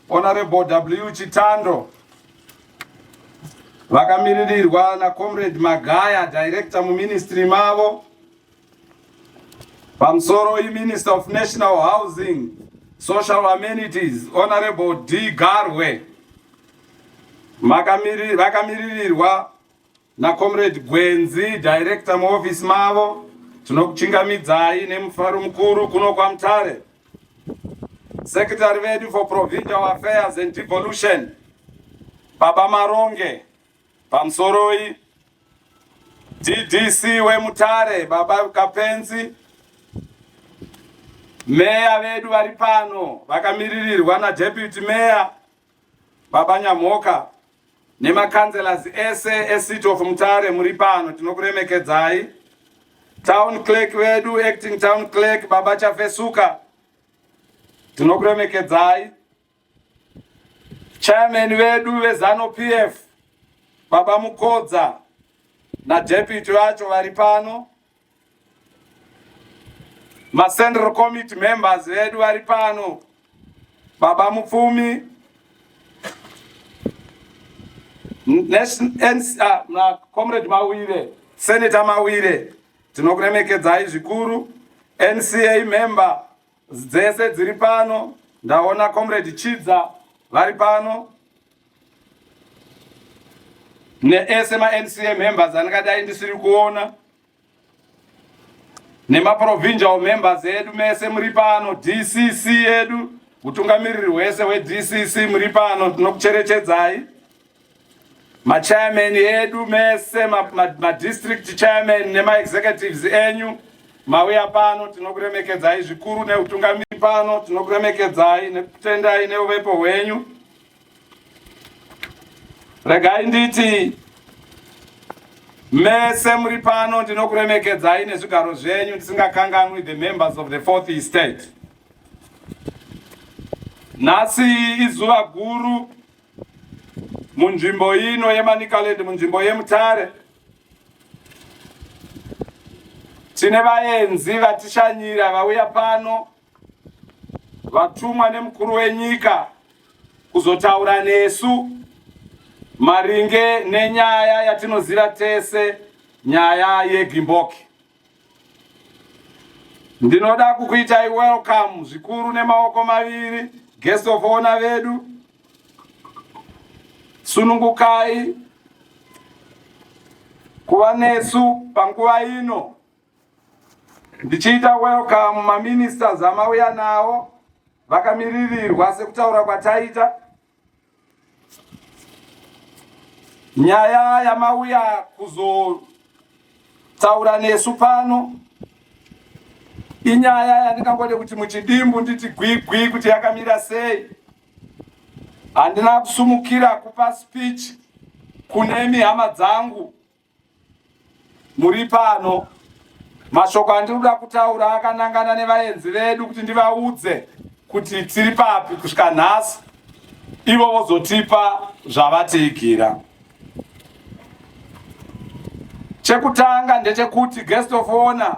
Honorable W Chitando vakamiririrwa na Comrade Magaya director mu ministry mavo pamusoro i Minister of National Housing Social Amenities Honorable D Garwe vakamiririrwa NaComrade Gwenzi, Director muoffice mavo, tinokuchingamidzai nemufaro mukuru kuno kwaMutare. Secretary vedu for Provincial Affairs and Devolution, Baba Maronge, pamusoroi DDC weMutare Baba Kapenzi, meya vedu vari pano vakamiririrwa naDeputy Mayor Baba Nyamhoka nemakanzelas ese ecity of Mutare muri pano tinokuremekedzai. Town clerk vedu acting town clerk baba Chafesuka tinokuremekedzai. Chairman vedu veZanu PF baba Mukodza na deputy vacho vari pano. Ma Central Committee members vedu vari pano, Baba Mupfumi, ah, na Comrade Mawire, Senator Mawire, tinokuremekedzai zvikuru. NCA member dzese dziri pano ndaona comrade chidza vari pano neese maNCA members andingadai ndisiri kuona nemaprovincial members edu mese muri pano DCC edu utungamiriri hwese hweDCC muri pano tinokucherechedzai machairman edu mese madistrict ma, ma chairman nemaexecutives enyu mauya pano tinokuremekedzai zvikuru neutungamiri pano tinokuremekedzai nekutendai neuvepo hwenyu regai nditi mese muri pano ndinokuremekedzai nezvigaro zvenyu ndisingakanganwi the members of the fourth estate nhasi izuva guru munzvimbo ino yeManicaland, munzvimbo yeMutare tine vaenzi vatishanyira vauya pano vatumwa nemukuru wenyika kuzotaura nesu maringe nenyaya yatinoziva tese, nyaya yeGimboki. Ndinoda kukuitai welcome zvikuru nemaoko maviri guest of honor vedu. Sunungukai kuva nesu panguva ino ndichiita welcome maministers amauya nawo vakamiririrwa sekutaura kwataita Nyaya yamauya kuzotaura nesu pano inyaya yandingangode kuti muchidimbu nditi gwigwi kuti yakamira sei. Handina kusumukira kupa speech kune mihama dzangu muri pano. Mashoko andinoda kutaura akanangana nevaenzi vedu kuti ndivaudze kuti tiri papi kusvika nhasi, ivo vozotipa zvavatiigira. Chekutanga ndechekuti guest of honor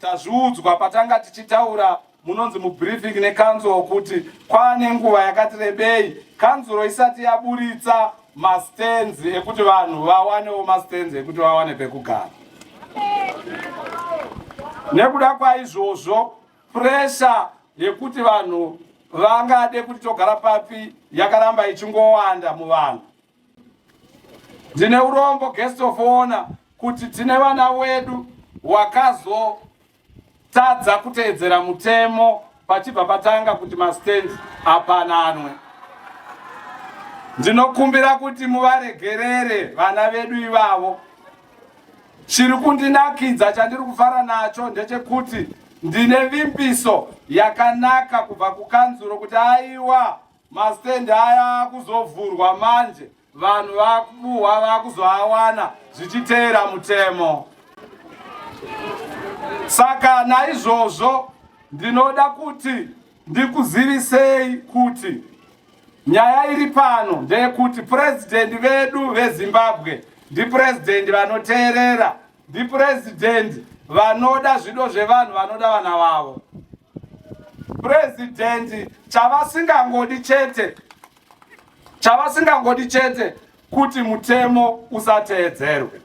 Tazviudzwa patanga tichitaura munonzi mubriefing nekanzuro kuti kwaane nguva yakati rebei kanzuro isati yaburitsa mastands ekuti vanhu vawanewo mastands ekuti vawane pekugara nekuda kwaizvozvo presha yekuti vanhu vangade kuti togara papi yakaramba ichingowanda muvanhu Ndine urombo guest of honor kuti tine vana wedu wakazotadza kuteedzera mutemo pachibva patanga kuti mastand apananwe. Ndinokumbira kuti muvaregerere vana vedu ivavo. Chiri kundinakidza chandiri kufara nacho ndechekuti ndine vimbiso yakanaka kubva kukanzuro kuti aiwa Mastand aya akuzovhurwa manje vanhu vakubuhwa vakuzoawana zvichiteera mutemo. Saka naizvozvo ndinoda kuti ndikuzivisei kuti nyaya iri pano ndeyekuti purezidhendi vedu vezimbabwe ndipurezidendi vanoteerera ndipurezidendi vanoda zvido zvevanhu vanoda vana vavo purezidendi chavasingangodi chete chavasingangodi chete kuti mutemo usateedzerwe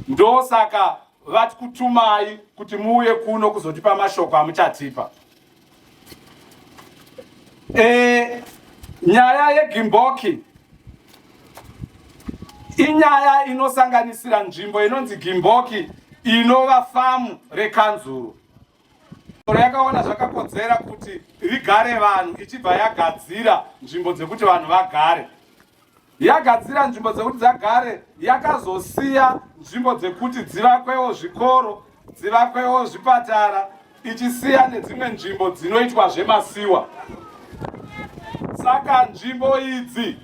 ndosaka vati kutumai kuti muuye kuno kuzotipa mashoko amuchatipa E, nyaya yegimboki inyaya inosanganisira nzvimbo inonzi gimboki inova famu rekanzuru oro yakaona zvakakodzera kuti rigare vanhu ichibva yagadzira nzvimbo dzekuti vanhu vagare yagadzira nzvimbo dzekuti dzagare yakazosiya nzvimbo dzekuti dzivakwewo zvikoro dzivakwewo zvipatara ichisiya nedzimwe nzvimbo dzinoitwa zvemasiwa saka nzvimbo idzi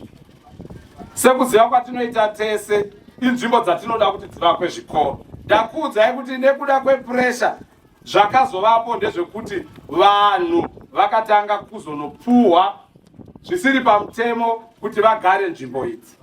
sekuziva kwatinoita tese inzvimbo dzatinoda kuti dzivakwe zvikoro ndakuudzai kuti nekuda kwepuresha Zvakazovapo ndezvekuti vanhu vakatanga kuzonopfuhwa zvisiri pamutemo kuti vagare nzvimbo idzi.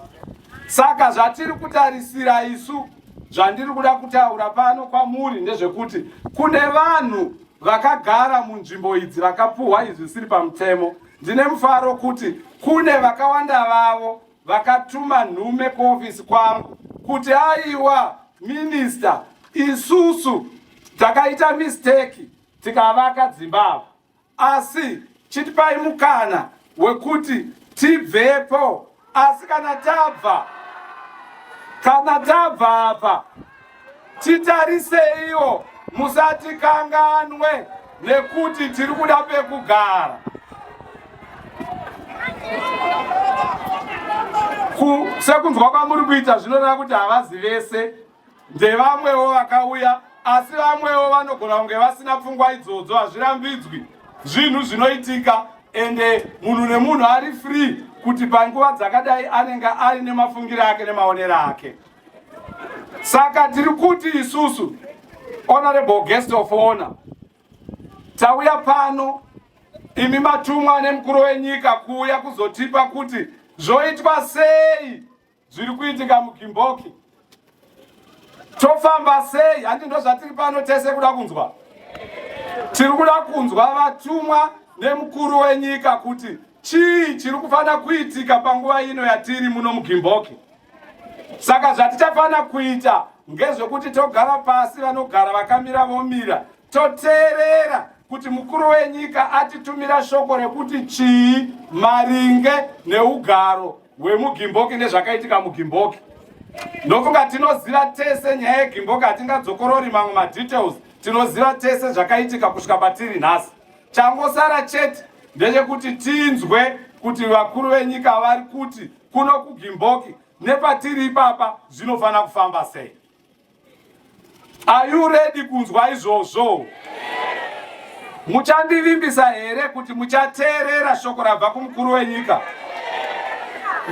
Saka zvatiri kutarisira isu zvandiri kuda kutaura pano kwamuri ndezvekuti kune vanhu vakagara munzvimbo idzi vakapuhwa izvi zvisiri pamutemo ndine mufaro kuti kune vakawanda vavo vakatuma nhume kuofisi kwangu kuti aiwa minista isusu takaita misteki tikavaka dzimba ava asi chitipai mukana wekuti tibvepo asi kana tabva kana tabva apa Titariseiwo, musatikanganwe nekuti tiri kuda pekugara. Sekunzwa kwamuri kuita zvinoreva kuti havazi vese, ndevamwewo vakauya, asi vamwewo vanogona kunge vasina pfungwa idzodzo. Hazvirambidzwi zvinhu zvinoitika, ende munhu nemunhu ari free kuti panguva dzakadai anenge aine mafungiro ake nemaonero ake. Saka tiri kuti isusu honorable guest of honor tauya pano imi matumwa nemukuru wenyika kuuya kuzotipa kuti zvoitwa sei zviri kuitika mugimboki tofamba sei handi ndo zvatiri pano tese kuda kunzwa tiri kuda kunzwa vatumwa nemukuru wenyika kuti chii chiri kufanira kuitika panguva ino yatiri muno mugimboki saka zvatichafanira kuita ngezvekuti togara pasi vanogara vakamira vomira toteerera kuti mukuru wenyika atitumira shoko rekuti chii maringe neugaro hwemugimboki nezvakaitika mugimboki ndofunga tinoziva tese nyaya yegimboki hatingadzokorori mamwe madetails tinoziva tese zvakaitika kusvika patiri nhasi changosara chete ndechekuti tinzwe kuti vakuru venyika vari kuti kuno kugimboki nepatiri ipapa zvinofanira kufamba sei are you ready kunzwa izvozvo muchandivimbisa here kuti muchateerera shoko rabva kumukuru wenyika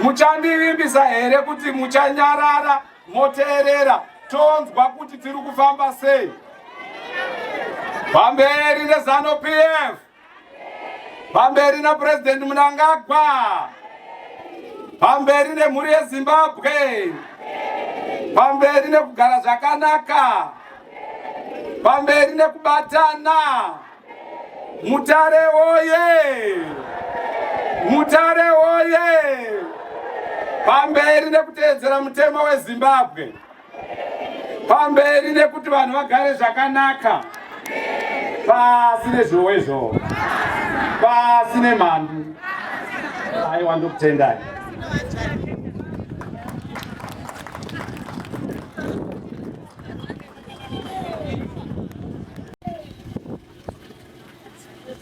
muchandivimbisa here kuti muchanyarara moteerera tonzwa kuti tiri kufamba sei pamberi nezano pf Pamberi na President Mnangagwa. Pamberi ne mhuri ye Zimbabwe. Pamberi ne kugara zvakanaka. Pamberi ne kubatana. Mutare woye. Mutare woye. Pamberi ne kuteedzera mutemo we Zimbabwe. pamberi nekuti vanhu vagare zvakanaka pasi nezvowezvo pasi nemhandu aiwa ndokutendai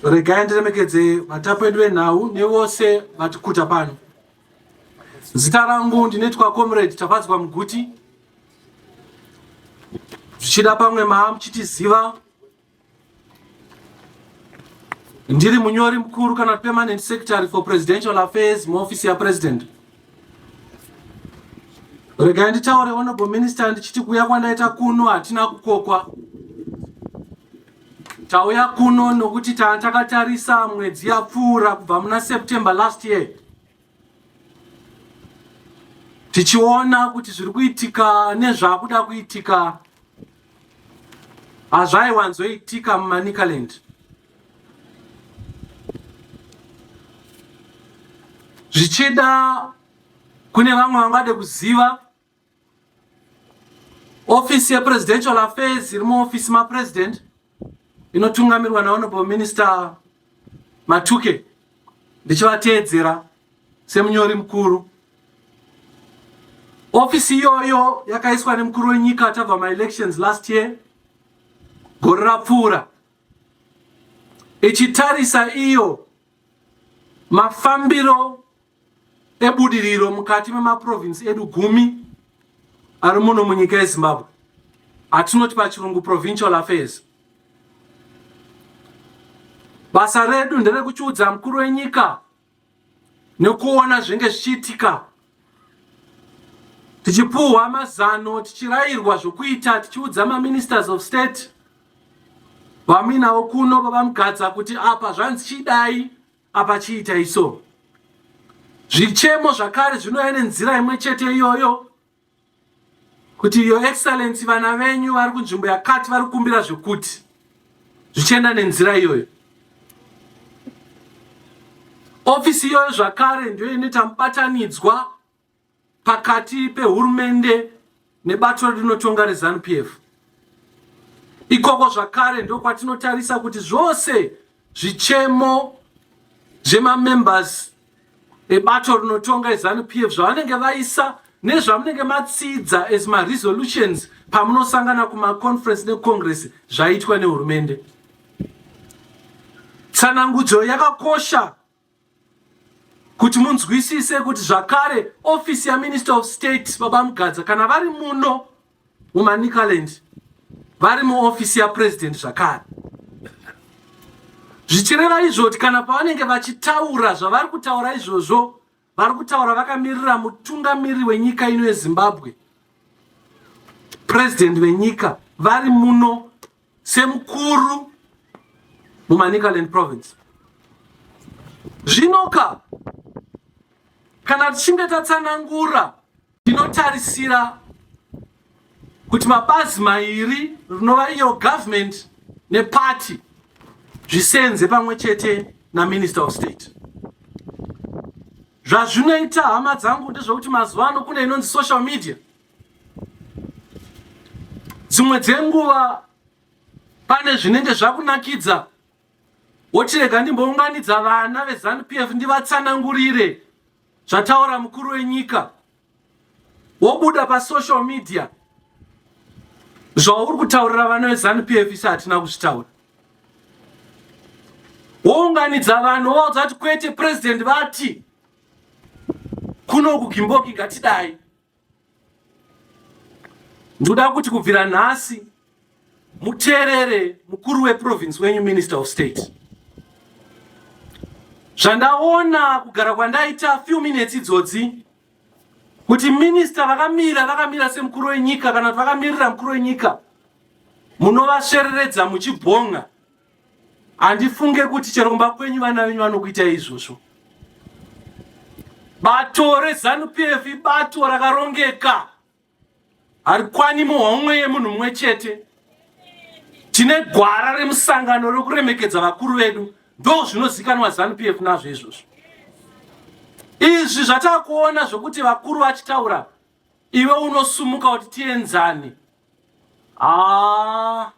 regai ndiremekedze vatapi vedu venhau nevose vatikuta pano Zita rangu ndinoitwa Comrade Tafadzwa Muguti. Zvichida pamwe maa muchitiziva, ndiri munyori mukuru kana permanent secretary for presidential affairs muofisi yapresident. Regai nditaure honorable minister ndichiti kuuya kwandaita kuno hatina kukokwa. Tauya kuno nokuti tanga takatarisa mwedzi yapfuura kubva muna September last year tichiona kuti zviri kuitika nezvakuda kuitika hazvaiwanzoitika mumanicaland zvichida kune vamwe vangade kuziva ofisi yepresidential affairs iri muofisi mapresident inotungamirwa nahonorable minister matuke ndichivateedzera semunyori mukuru ofisi iyoyo yakaiswa nemukuru wenyika tabva maelections last year gore rapfuura ichitarisa iyo mafambiro ebudiriro mukati memaprovinsi edu gumi ari muno munyika yezimbabwe atinoti pachirungu provincial affairs basa redu nderekuchiudza mukuru wenyika nekuona zvinge zvichiitika tichipuhwa mazano tichirayirwa zvokuita tichiudza maministers of state vaminavo kuno vavamugadza kuti apa zvanzi chidai Apa chiitai so. Zvichemo zvakare zvinouya nenzira imwe chete iyoyo kuti your excellency vana venyu vari kunzvimbo yakati vari kukumbira zvekuti zvichienda nenzira iyoyo. Ofisi iyoyo zvakare ndiyo inoita mubatanidzwa pakati pehurumende nebato rinotonga reZanu PF. Ikoko zvakare ndokwatinotarisa kuti zvose zvichemo zvemamembers ebato rinotonga eZanu PF zvavanenge vaisa nezvamunenge matsidza as maresolutions pamunosangana kumaconference necongress zvaitwa nehurumende. Tsanangudzo yakakosha Kuti munzwisise kuti zvakare office yaMinister of State Baba Mugadza kana vari muno muManicaland vari muofisi yaPresident zvakare zvichireva izvo kuti kana pavanenge vachitaura zvavari kutaura izvozvo vari kutaura vakamirira mutungamiri wenyika ino yezimbabwe purezidenti venyika vari muno semukuru mumanicaland province zvinoka kana tichinge tatsanangura tinotarisira kuti mabazi mairi rinova iyo government neparty zvisenze pamwe chete naminister of state zvazvinoita hama dzangu ndezvekuti mazuva ano kune inonzi social media dzimwe dzenguva pane zvinenge zvakunakidza wochirega ndimbounganidza vana vezanup f ndivatsanangurire zvataura mukuru wenyika wobuda pasocial media zvauri kutaurira vana vezanup f isi hatina kuzvitaura wounganidza vanhu wovaudza kuti kwete purezidendi vati kuno kugimboki ngatidai Ndoda kuti kubvira nhasi muteerere mukuru weprovince wenyu, Minister of State. Zvandaona kugara kwandaita few minutes idzodzi kuti minister vakamira vakamira semukuru wenyika kana kuti vakamirira mukuru wenyika munovasvereredza muchibhonga handifunge kuti chero kumba kwenyu vana venyu vanokuita izvozvo bato rezanup f ibato rakarongeka harikwani muhomwe yemunhu mumwe chete tine gwara remusangano rekuremekedza vakuru vedu ndo zvinozikanwa zanup f nazvo izvozvo izvi zvatakuona zvokuti vakuru vachitaura iwe unosumuka kuti tienzane haa ah.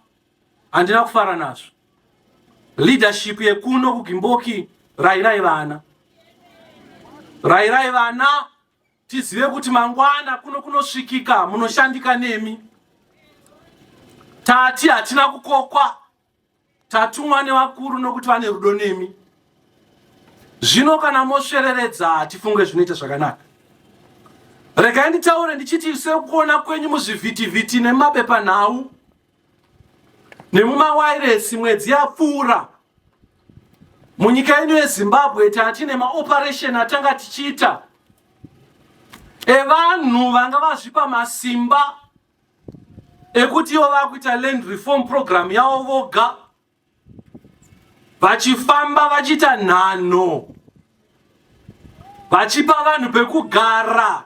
handina kufara nazvo leadership yekuno kugimboki rairai vana rairai vana tizive kuti mangwana kuno kunosvikika munoshandika nemi tati hatina kukokwa tatumwa nevakuru nokuti vane rudo nemi zvino kana mosvereredza hatifunge zvinoita zvakanaka regai nditaure ndichiti sekuona kwenyu muzvivhitivhiti nemapepanhau nemumawairesi mwedzi yapfuura munyika yedu yezimbabwe tati nemaoperation atanga tichiita evanhu vanga vazvipa masimba ekuti ivo vakuita land reform program yavo voga vachifamba vachiita nhano vachipa vanhu pekugara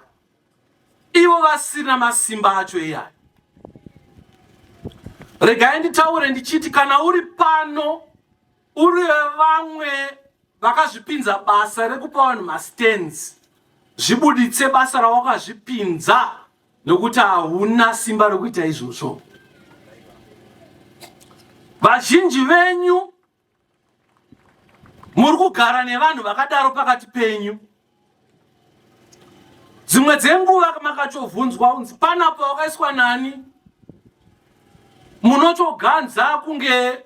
ivo vasina masimba acho iyayo regai nditaure ndichiti kana uri pano uri vamwe vakazvipinza basa rekupa vanhu mastands zvibuditse basa rawakazvipinza nokuti hauna simba rokuita izvozvo. Vazhinji venyu muri kugara nevanhu vakadaro pakati penyu. Dzimwe dzenguva makachovhunzwa unzi pana pawakaiswa nani, munotoganza kunge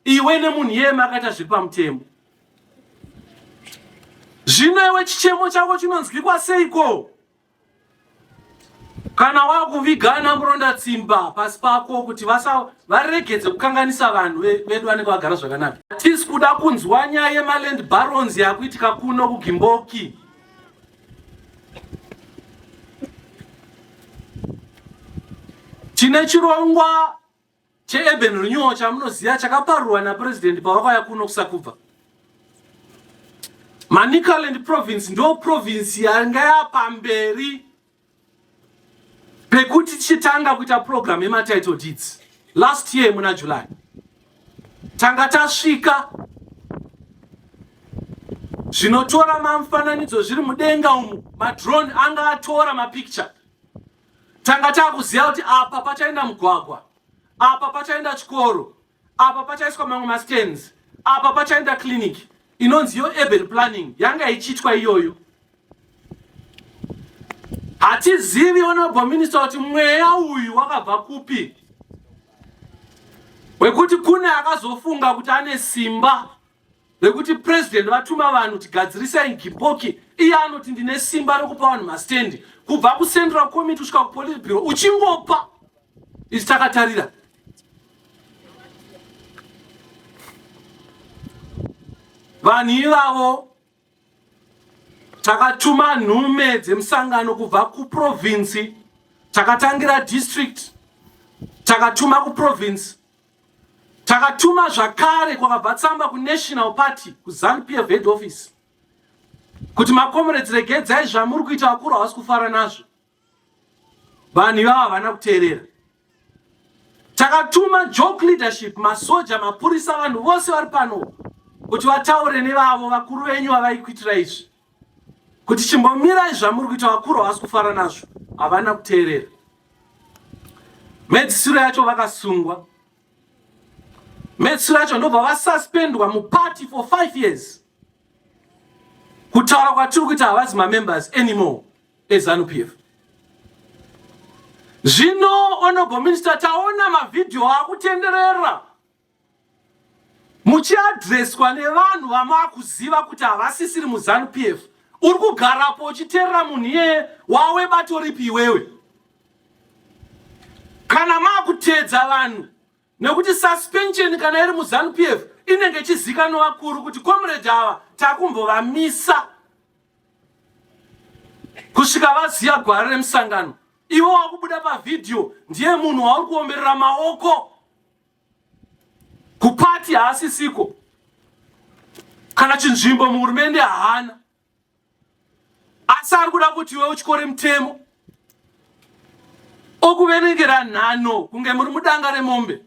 iwe nemunhu iye makaita zviri pamutemo. Zvino iwe chichemo chako chinonzwikwa seiko? Kana wakuviga ana muronda tsimba pasi pako kuti vasa varegedze kukanganisa vanhu vedu vanenge vagara zvakanaka. Tisi kuda kunzwa nyaya yemaland barons yakuitika kuno kuGimboki. Tine chirongwa cheurban renewal chamunoziva chakaparurwa napresident pavakauya kuno kusakubva manicaland province ndo province yanga yapamberi pekuti tichitanga kuita program yematitle deeds last year muna july tanga tasvika zvinotora mamufananidzo zviri mudenga umu madrone anga atora mapicture tanga takuziva kuti apa pachaenda mugwagwa apa pachaenda chikoro apa pachaiswa mamwe mastands apa pachaenda clinic inonzi yo urban planning yanga ichiitwa iyoyo hatizivi honorable minister kuti mweya uyu wakabva kupi wekuti kune akazofunga kuti ane simba rekuti president vatuma vanhu tigadzirisai gipoki iye anoti ndine simba rekupa vanhu mastendi kubva kucentral committee kusvika kupolice bureau uchingopa isu takatarira vanhu ivavo takatuma nhume dzemusangano kubva kuprovinsi takatangira district takatuma kuprovinsi Takatuma zvakare kwakabva tsamba kuNational Party kuZanu PF head office kuti makomuredzi regedzai zvamuri kuita vakuru havasi kufara nazvo. Vanhu ivavo havana kuteerera. Takatuma joke leadership, masoja, mapurisa, vanhu vose vari pano kuti vataure nevavo vakuru venyu vavaikuitira izvi. kuti chimbomirai zvamuri kuita vakuru havasi kufara nazvo havana kuteerera mhedzisiro yacho vakasungwa mhedzisiro yacho ndobva vasuspendwa muparty for five years kutaura kwatiri kuita havazi mamembers anymore ezanu p f zvino honorable minister taona mavhidhiyo akutenderera muchiadreswa nevanhu vamakuziva kuti havasisiri muzanu p f uri kugarapo uchiterera munhu iyeye wawe batoripi iwewe kana maakutedza vanhu nekuti suspension kana iri muzanu p f inenge ichizikanwa vakuru kuti comrade ava takumbovamisa kusvika vaziva gwara remusangano ivo wakubuda pavhidhiyo ndiye munhu wauri kuomberera maoko kupati haasisiko kana chinzvimbo muhurumende haana asi ari kuda kuti iwe uchikore mutemo okuverengera nhano kunge muri mudanga remombe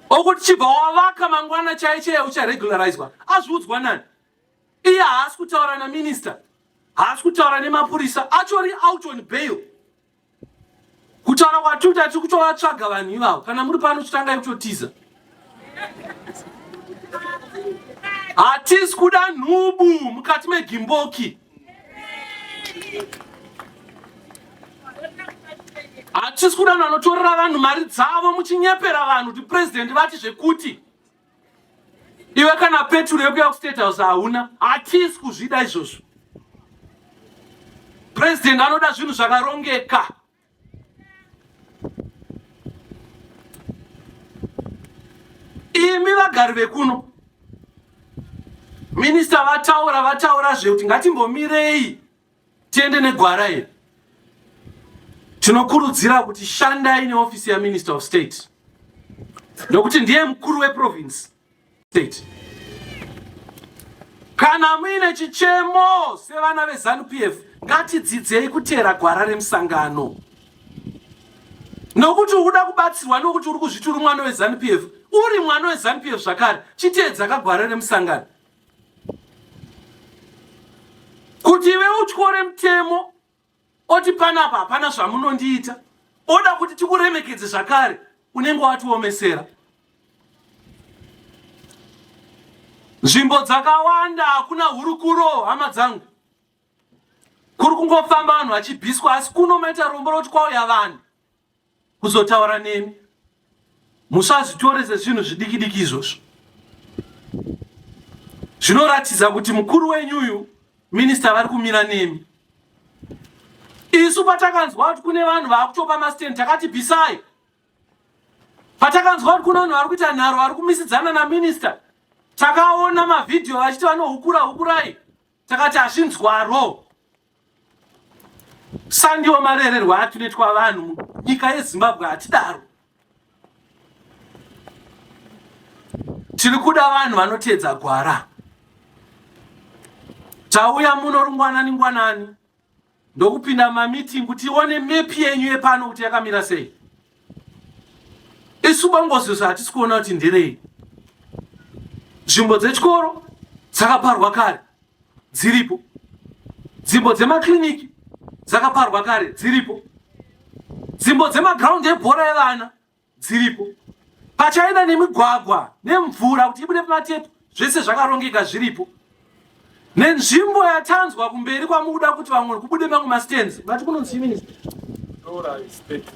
okuti chibva wavaka mangwana chai chaiye ucharegularizwa azviudzwa nani iye haasi kutaura naminista haasi kutaura nemapurisa achori out on bail kutaura kwatuta tiri kutovatsvaga vanhu ivavo kana muri pano chitangai kutotiza hatisi kuda nhubu mukati megimboki hatisi kuda vanhu vanotorera vanhu mari dzavo muchinyepera vanhu kuti purezidhendi vati zvekuti iwe kana peturu yekuya kustate house hauna hatisi kuzvida izvozvo president anoda zvinhu zvakarongeka imi vagari vekuno minista vataura vataura zvekuti ngatimbomirei Tiende negwara iri. Tinokurudzira kuti shandai neofisi yaMinister of State nokuti ndiye mukuru weprovince state. Kana muine chichemo sevana veZanu PF ngatidzidzei kuteera gwara remusangano nokuti ukuda kubatsirwa nokuti uri kuzviti uri mwana weZanu PF uri mwana weZanu PF zvakare chiteedza kagwara remusangano kuti iwe utyore mutemo oti panapa hapana zvamunondiita oda kuti tikuremekedze zvakare unenge watiomesera nzvimbo dzakawanda hakuna hurukuro hama dzangu kuri kungofamba vanhu vachibhiswa asi kuno maita rombo roti kwauya vanhu kuzotaura neni musazvitore sezvinhu zvidikidiki izvozvo zvinoratidza kuti mukuru wenyu uyu minista vari kumira nemi isu patakanzwa kuti kune vanhu vaakutopa mastand takati bvisai patakanzwa kuti kune vanhu vari kuita nharo vari kumisidzana naminista takaona mavhidhiyo vachiti vanohukura hukurai takati hazvinzwaro sandiwo marererwa atinoitwa vanhu nyika yezimbabwe hatidaro tiri kuda vanhu vanoteedza gwara tauya muno rungwanani ngwanani ndokupinda mamitingu tione mepi yenyu yepano kuti yakamira sei isu bangozvizvi hatisi kuona kuti nderei nzvimbo dzechikoro dzakaparwa kare dziripo dzimbo dzemakiriniki dzakaparwa kare dziripo dzimbo dzemagraundi ebhora evana dziripo pachaina nemigwagwa nemvura kuti ibude pamatepu zvese zvakarongeka zviripo nenzvimbo yatanzwa kumberi kwamukuda kuti vamwe kubude mamwe mastands vati kunonzi minister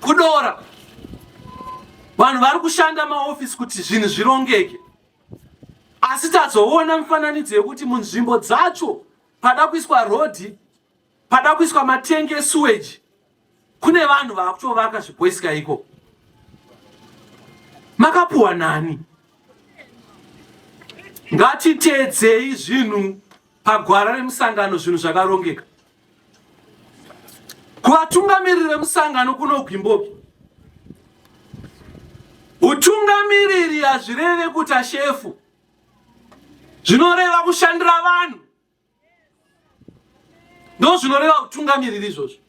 kudora vanhu vari kushanda maofisi kuti zvinhu zvirongeke asi tazoona mifananidzo yekuti munzvimbo dzacho pada kuiswa rodhi Pada kuiswa matengi esuweji kune vanhu vakutovaka zviboisika iko makapuwa nani ngatiteedzei zvinhu pagwara remusangano zvinhu zvakarongeka kuvatungamiriri vemusangano kunogwimboki utungamiriri hazvireve kuta shefu zvinoreva kushandira vanhu ndo zvinoreva utungamiriri izvozvo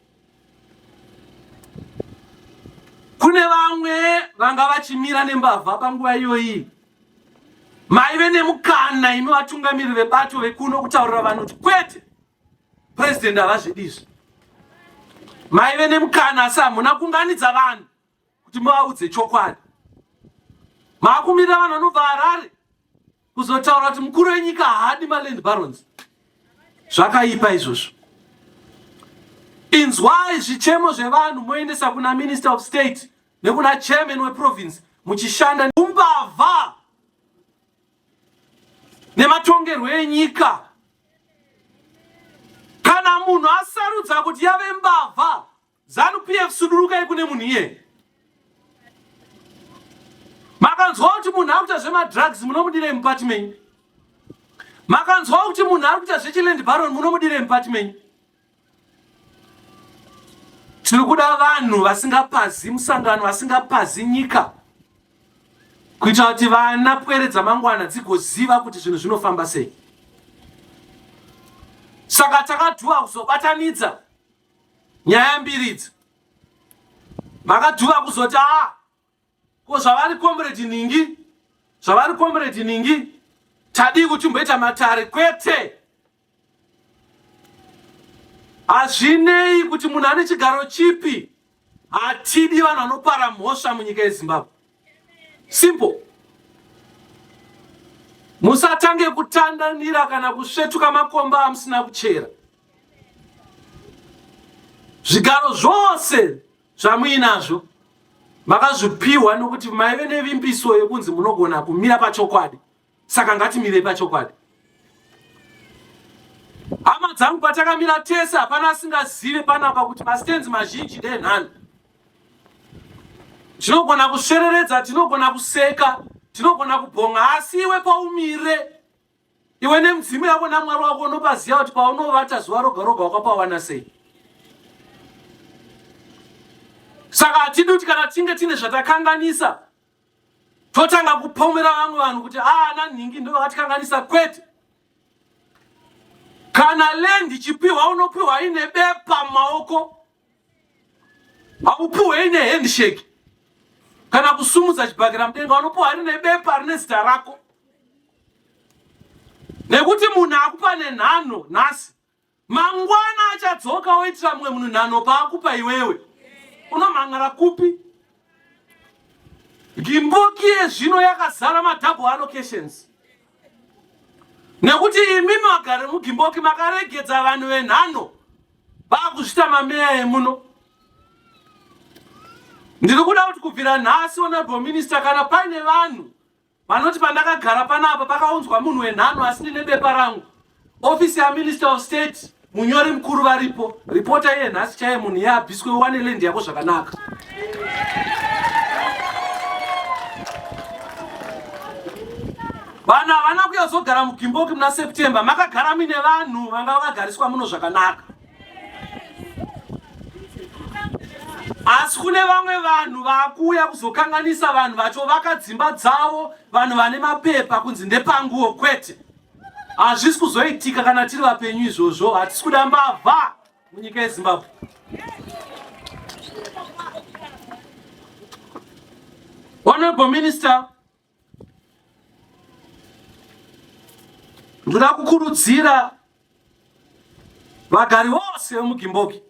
kune vamwe vanga vachimira nembavha panguva iyoyi maive nemukana imi vatungamiri vebato vekuno kutaurira vanhu kuti kwete purezidenti havazvidizvi maive nemukana asi hamuna kunganidza vanhu kuti muvaudze chokwadi. Maakumirira vanhu vanobva Harare kuzotaura kuti mukuru wenyika haadi maland barons. Zvakaipa izvozvo. Inzwai zvichemo zvevanhu moendesa kuna minister of state nekuna chairman weprovince muchishanda umbavha nematongerwo enyika kana munhu asarudza kuti yave mbavha Zanu PF sudurukai kune munhu iye. Makanzwa kuti munhu akuita zvema drugs munomudire mupati menyu. Makanzwa kuti munhu ari kuita zvechiland baron munomudire mupati menyu. Tiri kuda vanhu vasingapazi musangano vasingapazi nyika kuitira kuti vana pwere dzamangwana dzigoziva kuti zvinhu zvinofamba sei. Saka takadhuwa kuzobatanidza nyaya mbiri idzi makadhuva kuzoti a ah, ko zvavari comrade ningi zvavari comrade ningi tadii kuti mboita matare kwete hazvinei kuti munhu ane chigaro chipi Hatidi vanhu vanopara mhosva munyika yeZimbabwe. Simple. Musatange kutandanira kana kusvetuka makomba amusina kuchera. Zvigaro zvose zvamuinazvo makazvipiwa nokuti maive nevimbiso yekunzi munogona kumira pachokwadi Saka ngatimirei pachokwadi. Hama dzangu patakamira tese hapana asingazive panapa kuti mastenzi mazhinji ndenhani. Tinogona kusvereredza, tinogona kuseka, tinogona kubhonga asi iwe paumire iwe nemudzimu yako namwari wako unopaziva kuti paunovata zuva roga roga wakapawana sei. Saka hatidi kuti kana tinge tine zvatakanganisa totanga kupomera vamwe vanhu kuti aana ah, nhingi ndo vakatikanganisa kwete kana land ichipiwa unopiwa ine bepa mumaoko haupiwe ine handshake kana kusumudza chibhakira mudenga unopiwa rine bepa rine zita rako nekuti munhu akupa nenhano nhasi Mangwana achadzoka oitira mumwe munhu nhano paakupa iwewe. Unomhan'ara kupi? Gimboki yezvino yakazara madouble allocations nekuti imi magari mugimboki makaregedza vanhu venhano vakuzvita mameya emuno ndiri kuda kuti kubvira nhasi honorable minister kana paine vanhu Vanoti pandakagara panapa pakaunzwa munhu wenhano asi ndine bepa rangu. Office ya Minister of State munyori mukuru varipo. Reporter iye nhasi chaiye munhu iye abviswe uwane land yako zvakanaka. Vanhu havana kuyazogara mugimboki muna September makagara mine vanhu vanga vakagariswa muno zvakanaka. asi kune vamwe vanhu vakuuya kuzokanganisa vanhu vacho vakadzimba dzavo vanhu vane mapepa kunzi ndepanguwo kwete hazvisi kuzoitika kana tiri vapenyu izvozvo hatisi kuda mbavha munyika yezimbabwe honorable minister ndoda kukurudzira vagari vose vemugimboki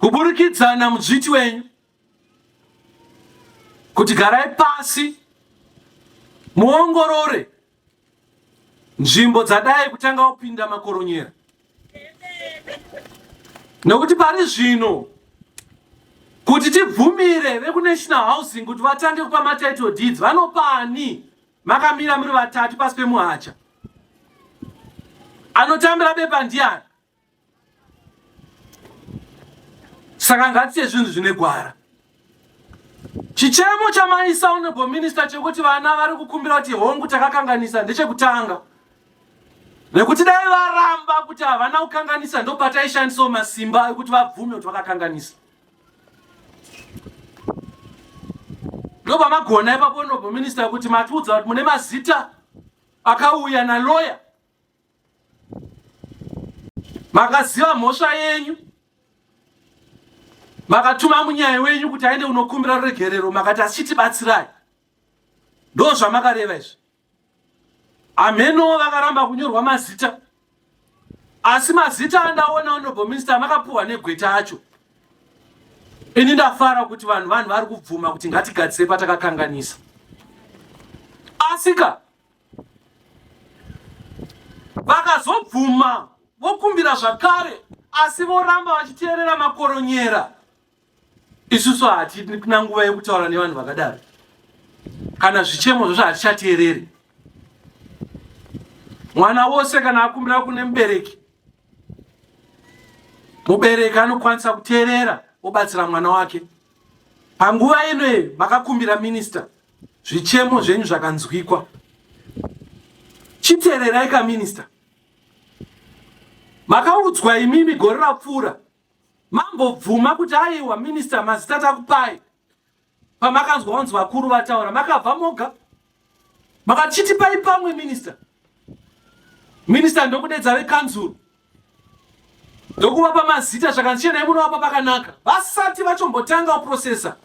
kuburikidza namudzviti wenyu kuti garai pasi muongorore nzvimbo dzadai kutanga kupinda makoronyera nekuti pari zvino kuti tibvumire vekunational housing kuti vatange kupa matitle deeds vanopani makamira muri vatatu pasi pemuhacha anotambira bepa ndiani saka ngatiye zvinhu zvine gwara chichemo chamai soundable minister chekuti vana vari kukumbira kuti hongu takakanganisa ndechekutanga nekuti dai varamba kuti havana kukanganisa ndopataishandisawo masimba ekuti vabvume kuti vakakanganisa ndopamagona ipapo honorable minister kuti matiudza kuti mune mazita akauya naloya makaziva mhosva yenyu makatuma munyai wenyu kuti aende unokumbira ruregerero makati asichitibatsirai ndo zvamakareva izvi hamhenowo vakaramba kunyorwa mazita asi mazita andaona honorable minister amakapuhwa negweta acho ini ndafara kuti vanhu vanhu vari kubvuma kuti ngatigadzise patakakanganisa asika vakazobvuma vokumbira zvakare asi voramba vachiteerera makoronyera isusu hatina nguva yekutaura nevanhu vakadaro kana zvichemo zvozvo hatichateereri mwana wose kana akumbira kune mubereki mubereki anokwanisa kuteerera obatsira mwana wake panguva inoye makakumbira minista Zvichemo zvenyu zvakanzwikwa. Chitererai ka minister. Makaudzwa imimi gore rapfuura mambobvuma kuti aiwa minista mazita takupai pamakanzwa wanzi vakuru vataura makabva moga makachitipai pamwe minista minista ndokudedza vekanzuru ndokuvapa mazita zvakanzi chenai munovapa pakanaka vasati vachombotanga kuprosesa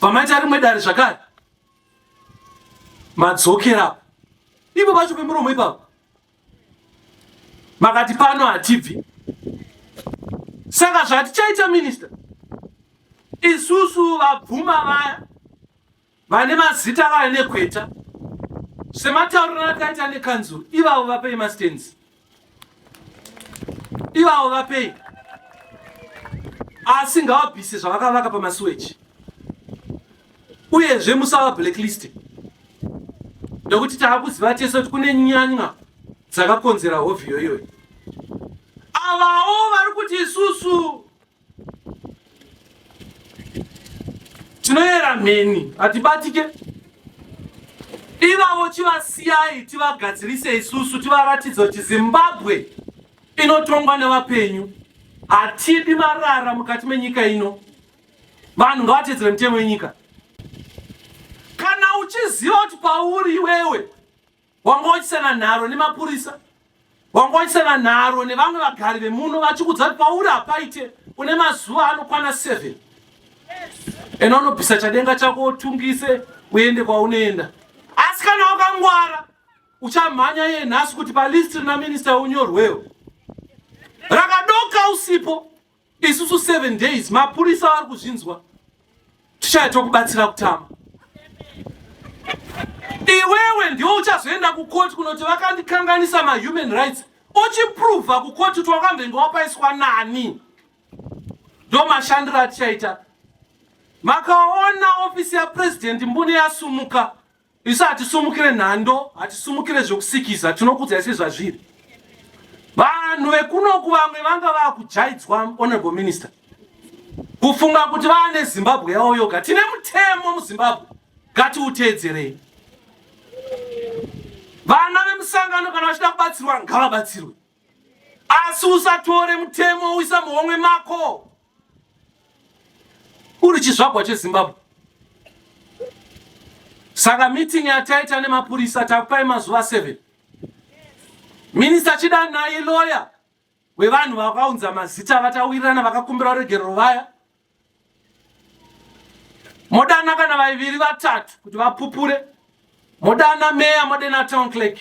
pamaita rimwe dare zvakare madzokerapo ipo pacho pemuromo ipapo makati pano hatibvi saka zvatichaita minista isusu vabvuma vaya vane mazita vaine gweta sematauriro akaita nekanzuru ivavo vapei mastands ivavo vapei asi ngavabvise zvavakavaka pamasuweji uyezve musava blacklist nekuti taakuziva tese kuti kune nyanya dzakakonzera hovhiyo iyoyo avawo vari kuti isusu tinoyera mheni hatibatike ivavo chivasiyai tivagadzirise isusu tivaratidza kuti zimbabwe inotongwa nevapenyu hatidi marara mukati menyika ino vanhu ngavatedzere mitemo yenyika kana uchiziva kuti pauri iwewe wanga wachisana nharo nemapurisa wanga wachisana nharo nevamwe vagari vemuno vachikudza kuti pauri hapaite une mazuva anokwana 7 ena unobvisa chadenga chako utungise uende kwaunoenda asi kana wakangwara uchamhanya ye nhasi kuti palisti rina minista unyorwewo rakadoka usipo isusu seven days mapurisa vari kuzvinzwa tichaya tokubatsira kutama iwewe ndiwo uchazoenda kukoti kunoti vakandikanganisa mahuman rights uchipruvha kukoti kuti wakambenge wapaiswa nani ndo mashandiro atichaita makaona ofisi yapurezidendi mbune yasumuka Isu hatisumukire nhando, hatisumukire zvekusikiza, tinokudzai sezvazviri. Vanhu vekunoku vamwe vanga vakujaidzwa honorable minister. Kufunga kuti vane Zimbabwe yavo yoga. Tine mutemo muZimbabwe. Ngatiuteedzerei. Vana vemusangano kana vachida kubatsirwa ngavabatsirwe. asi usatore mutemo uisa muhomwe mako uri chizvagwa chezimbabwe saka meeting yataita nemapurisa takupai mazuva 7 minista chida naye loya wevanhu vakaunza mazita vatawirirana vakakumbira ruregerero vaya modana kana vaiviri vatatu kuti vapupure modana meya modena town clerk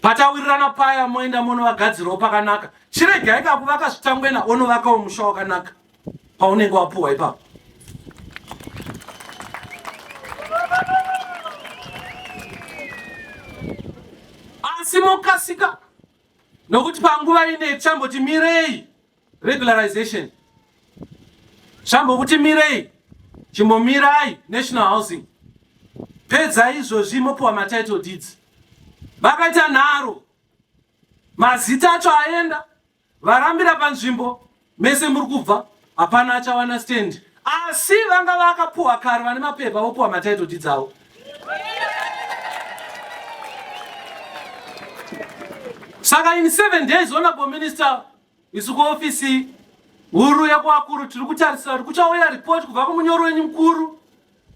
patawirirana paya moenda monovagadzirawo pakanaka chiregai kakuvaka zvitangwena onovakawo musha wakanaka paunenge wapuhwa ipapo asi mokasika nokuti panguva ine chamboti mirei regularization zvambokuti mirei chimbomirai national housing pedza izvozvi mopiwa matitle deeds vakaita nharo mazita acho aenda varambira panzvimbo mese muri kubva hapana achawana stand asi vanga vakapuwa kare vane mapepa vopuwa matitle deeds avo saka in seven days honorable minister Isu kuofisi huru yekuakuru tiri kutarisira kuti kuchauya ripoti kubva kumunyori wenyu mukuru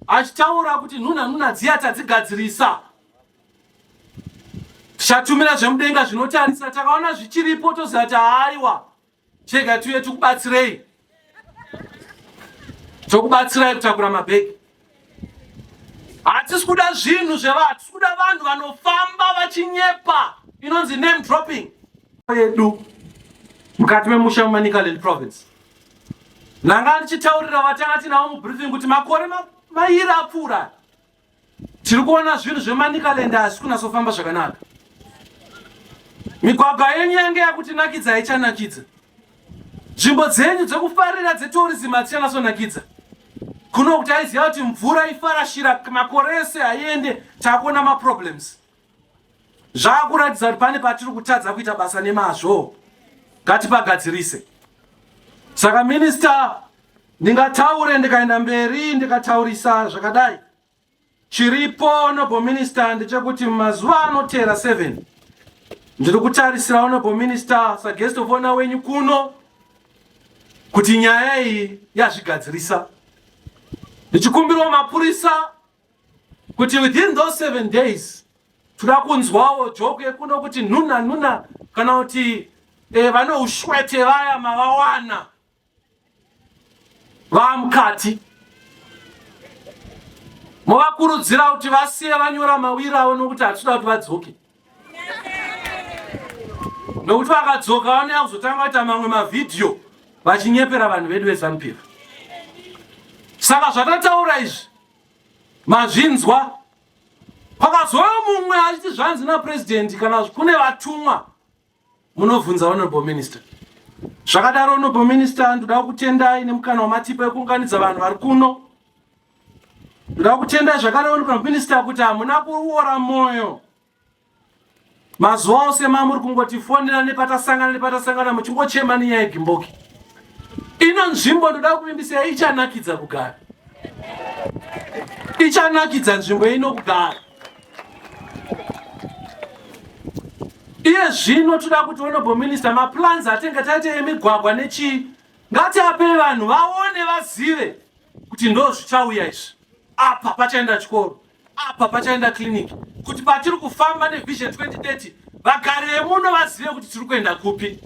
achitaura kuti nhunha nhunha dziya tadzigadzirisa tichatumira zvemudenga zvinotarisa takaona zvichiripo toziva kuti haaiwa chega tiuye tikubatsirei tokubatsirai kutakura mabhegi hatisi kuda zvinhu zvevanhu hatisi kuda vanhu vanofamba vachinyepa inonzi name dropping yedu mukati memusha mumanicaland province ndanga ndichitaurira vatanga tinawo mubriefing kuti makore mairi apfuura Tiri kuona zvinhu zvemanicaland asi kunasofamba zvakanaka. Migwagwa yenyu yange yakutinakidza haichanakidza. Nzvimbo dzenyu dzekufarira dzetourism hadzichanasonakidza. Kuno kuti aiziva kuti mvura ifarashira makore ese haiende takuona maproblems. Zvakuratidza kuti pane patiri kutadza kuita basa nemazvo, ngatipagadzirise. Saka minista, ndingataure ndikaenda mberi ndikataurisa zvakadai. Chiripo noble minister ndechekuti mazuva anotera 7 ndiri kutarisira honorable minister saguest of honor wenyu kuno kuti nyaya iyi yazvigadzirisa ndichikumbirawo mapurisa kuti within those seven days toda kunzwawo joke yekuno kuti nhuna nhuna kana kuti eh, vane ushwete vaya mavawana vamukati movakurudzira kuti vasiye vanyora mawiri avo nokuti hatitoda kuti vadzoke nokuti vakadzoka vanouya kuzotanga kuita mamwe mavhidhiyo vachinyepera vanhu vedu vezanupier saka zvatataura izvi mazvinzwa pakazouya mumwe achiti zvanzi napurezidendi kana kune vatumwa Munobvunza honorable minister. Zvakadaro honorable minister ndoda kutendai nemukana wamatipa yekuunganidza vanhu vari kuno. Ndoda kutendai zvakare honorable minister kuti hamuna kuora moyo. Mazuva ose mamuri kungotifonera nepatasangana nepatasangana muchingochema nenyaya yegimboki. Ino nzvimbo ndoda kuvimbisa ichanakidza kugara. Ichanakidza nzvimbo ino kugara. iye zvino toda kuti honorable minister maplans atenga taite emigwagwa nechii ngatiape vanhu vaone vazive kuti ndo zvichauya izvi apa pachaenda chikoro apa pachaenda kiriniki kuti patiri kufamba nevision 2030 vagari vemuno vazive kuti tiri kuenda kupi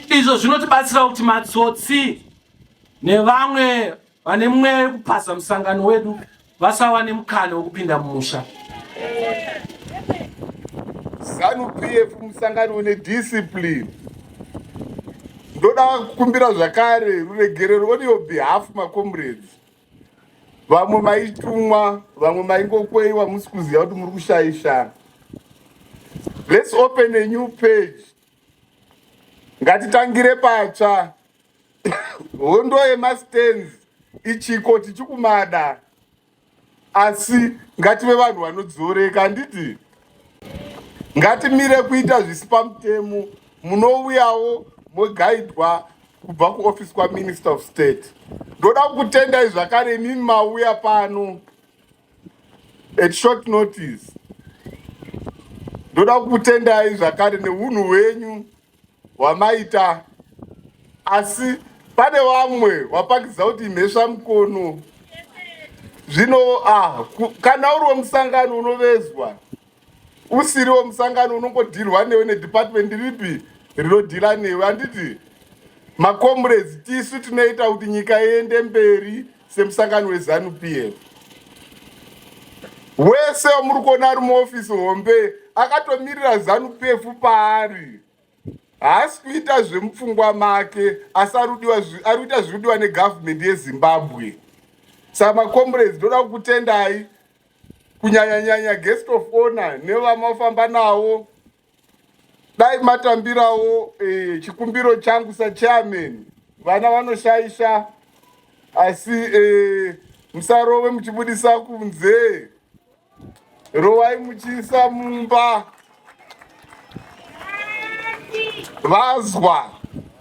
izvo zvinotibatsira kuti matsotsi nevamwe vane mweya yekupaza musangano wedu vasava nemukana wekupinda mumusha zanu pf musangano une discipline ndoda kukumbira zvakare ruregerero on your behalf macomrades vamwe maitumwa vamwe maingokweiwa musi kuziva kuti muri kushaisha let's open a new page ngatitangire patsva hondo yemastands ichiko tichikumada asi ngative vanhu vanodzoreka handiti ngatimire kuita zvisi pamutemo munouyawo mogaidwa kubva kuoffice kwaminister of state ndoda kukutendai zvakare imimi mauya pano at short notice ndoda kukutendai zvakare neunhu hwenyu wamaita asi pane vamwe wapangidza kuti mhesva mukono zvino ah, kana uriwo musangano unovezwa usiriwo musangano unongodhirwa newe nedepartment ripi rinodhira newe handiti macomrades tisu tinoita kuti nyika iende mberi semusangano wezanu pf wese wamuri kuona ari muofisi hombe akatomirira zanu pf paari haasi kuita zvemupfungwa make asi ari kuita zviri kudiwa negavhumendi yezimbabwe saka macomrades ndoda kukutendai kunyanyanyanya guest of honor nevamafamba navo dai matambirawo eh, chikumbiro changu sachairman vana vanoshaisha asi eh, musarove muchibudisa kunze rovai muchiisa mumba vazwa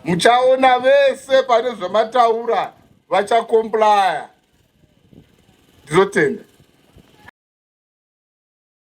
muchaona vese pane zvamataura vachakomplaya ndizotenda